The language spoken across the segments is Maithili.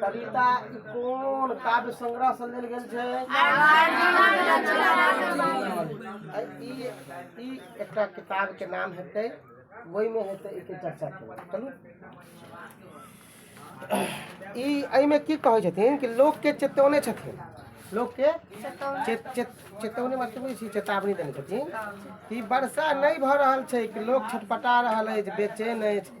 कविता ई कोन काव्य संग्रह से लेल गेल छै आ ई ई एकटा किताब के नाम हेतै ओहि में हेतै एके चर्चा करब चलू ई एहिमे की कहै छथिन कि लोकके चेतौने छथिन लोकके चेत- चेत- चेतौने मतलब बुझै छी चेतावनी देने छथिन कि वर्षा नहि भऽ रहल छै कि लोक छटपटा रहल अछि बेचैन अछि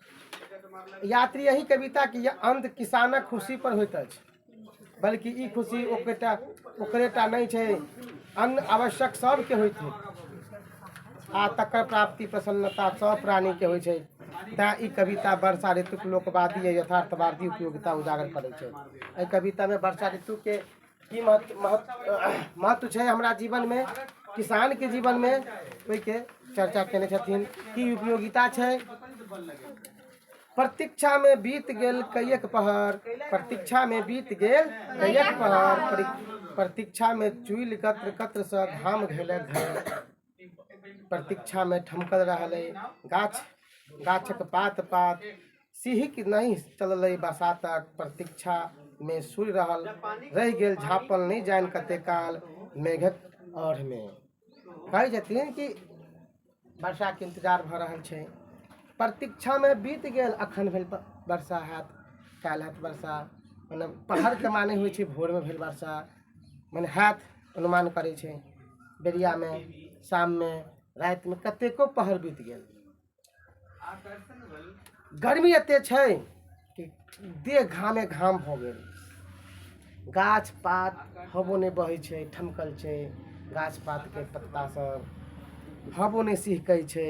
यात्री एहि कविता के अंत किसानक खुशी पर होइत अछि बल्कि ई खुशी ओकरेटा ओकरेटा नहीं छै अन्न आवश्यक सबके होइत छै आ तकर प्राप्ति प्रसन्नता सब प्राणी के होइत छै तैं ई कविता वर्षा ऋतुक लोकवादी आ यथार्थवादी उपयोगिता उजागर करैत छै एहि कविता में वर्षा ऋतु के की महत्व महत्व महत्व छै हमरा जीवनमे किसानके जीवनमे ओहिके चर्चा केने छथिन की उपयोगिता छै प्रतीक्षामे बीत गेल कैयक पहर प्रतीक्षामे बीत गेल कैयक पहर प्रतीक्षामे चुइल कत्र कत्रसँ घाम घैलक घर प्रतीक्षामे ठमकल रहल अइ गाछ गाछक पात पात सिहक नहि चलल अइ बसातक प्रतीक्षामे सुरि रहल रहि गेल झाँपल नहि जानि कते काल मेघक औढ़मे कहै छथिन कि वर्षाके इन्तजार भऽ रहल छै प्रतीक्षामे बीत गेल अखन भेल वर्षा हैत काल्हि हैत वर्षा मतलब पहरके माने होइ छै भोरमे भेल वर्षा मने हाथ अनुमान करै छै बेरियामे शाममे रातिमे कतेको पहर बीत गेल गर्मी एते छै कि देह घामे घाम भऽ गेल गाछ पात हवो नहि बहै छै ठमकल छै गाछ पातके पत्ता सब हवो नहि सिहकै छै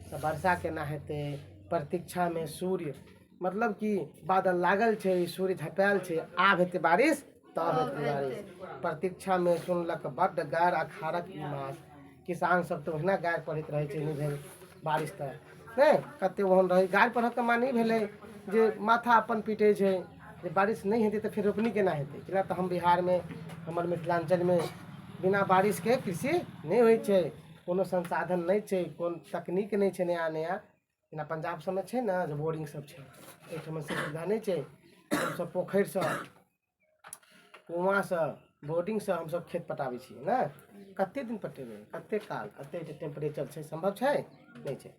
तऽ वर्षा केना हेतै प्रतीक्षामे सूर्य मतलब कि बादल लागल छै सूर्य झँपायल छै आब हेतै बारिश ताबत गुजारिश प्रतीक्षा में सुनलक बड्ड गारि आ खारक ई मास किसान सब तो ओहिना गारि पढ़ैत रहै छै नहि भेल बारिश तऽ नहि कते ओहन रहै गारि पढ़क के माने ई भेलै जे माथा अपन पीटै छै जे बारिश नहि हेतै तऽ फेर रोपनी केना हेतै कैला तऽ हम बिहार में हमर मिथिलांचल में बिना बारिश के कृषि नहि होइ छै कोनो संसाधन नहि छै कोन तकनीक नहि छै नया नया जेना पंजाब सबमे छै ने जे बोरिंग सब छै एहिठाम से सुविधा नहि छै हमसब पोखरि सँ कुआँ सँ बोरिंग सँ हमसब खेत पटाबै छियै ने कते दिन पटेबै कते काल कते जे टेम्प्रेचर छै सम्भव छै नहि छै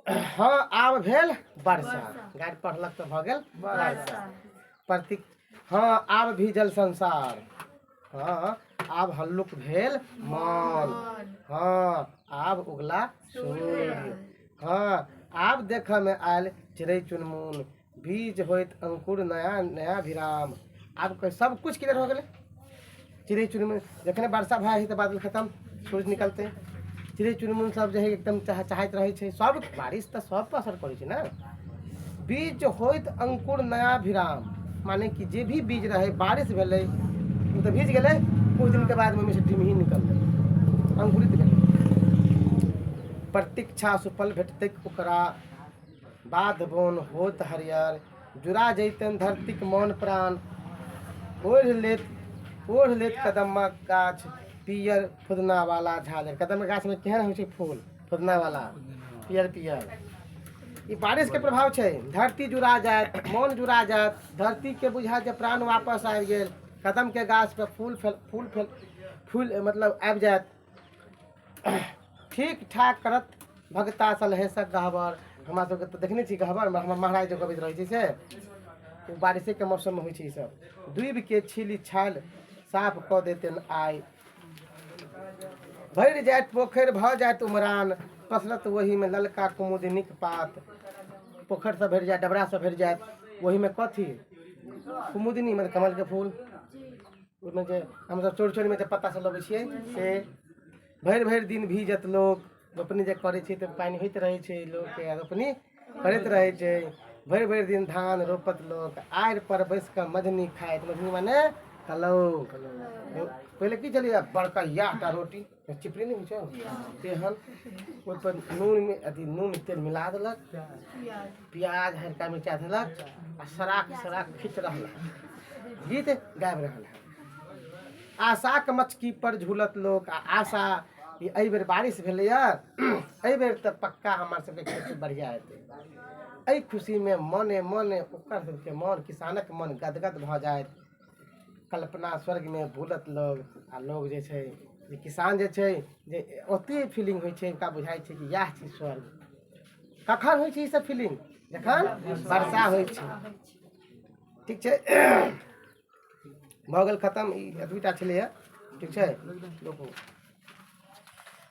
हँ आब भेल वर्षा गाड़ी पढ़लक तऽ भऽ गेल वर्षा प्रति हँ आब भी जल संसार हँ आब हल्लुक भेल मौन हँ आब उगला सूर्य हँ आब देखऽमे आयल चिड़ै चुनमुन बीज होइत अंकुर नया नया विराम आब क- सब कुछ क्लियर हो गेलै चिड़ै चुनमुन जखने वर्षा भए है तऽ बादल खतम सूरज निकलते चिड़ै चुनमुन सब जे है एकदम चाह चाहैत रहै छै सब बारिश तऽ सब पर असर करै छै ने बीज होइत अंकुर नया विराम माने कि जे भी बीज रहै बारिश भेलै ओ तऽ भीज गेलै कुछ दिनके बाद ओहिमे से डिमही निकललै अंकुरित भेलै प्रतीक्षा सुफल भेटतै ओकरा बाद बोन होत हरियर जुड़ा जैतनि धरतीक मौन प्राण ओढ़ लेत ओढ़ लेत कदम्मा गाछ पियर फुदनावाला झालर कदम्मा गाछमे केहन होइ छै फूल फुदनावाला पियर पियर ई बारिशके प्रभाव छै धरती जुड़ा जायत मौन जुड़ा जायत धरतीके बुझायत जे प्राण वापस आबि गेल कदमके गाछपर फूल फल फूल फल फूल मतलब आबि जायत ठीक ठाक करत भगता सलहेसक गहबर हमरा सबके तऽ देखने छी गहबर हमरा हमर महाराज जे गबैत रहै छै से ओ बारिशेके मौसममे होइ छै ईसब डूबिके छीलि छालि साफ कऽ देतनि आइ भरि जाइत पोखरि भऽ जाइत उमरान पसरत ओहिमे ललका कुमुदिनीक पात पोखरि सब भरि जायत डबरा सब भरि जायत ओहिमे कथी कुमुदिनी मतलब कमलके फूल ओहिमे जे हमसभ चोरी चोरीमे जे पत्ता सब लबै छियै से भरि भरि दिन भीजत लोक रोपनी जे करै छै तऽ पानि होइत रहै छै लोकके आ रोपनी करैत रहै छै भरि भरि दिन धान रोपत लोक आड़ि पर बैस कऽ मझनी खाइत मझनी माने कलौ पहिले की छलैया बड़का याटा रोटी चिपड़ी नहीं छो तेहन ओहि पर नून में अथी नून तेल मिला देलक प्याज हरका मिर्चा देलक आ सराक सराक खींच रहल है। गीत गाबि रहल है आशाक मचकी पर झूलत लोक आ आशा ई एहि बेर बारिश भेलैए एहि बेर तऽ पक्का हमर सबके खेती बढ़िया हेतै एहि खुशीमे मने मने ओकर सबके मन किसानक मन गदगद भऽ जाइत कल्पना स्वर्गमे भूलत लोग आ लोग जे छै जे किसान जे छै जे ओतेक फीलिंग होइ छै हुनका बुझाइ छै कि इएह छी स्वर्ग कखन होइ छै ईसभ फीलिंग जखन वर्षा होइ छै ठीक छै भऽ गेल खतम ई एतबीटा छलैए ठीक छै रोकू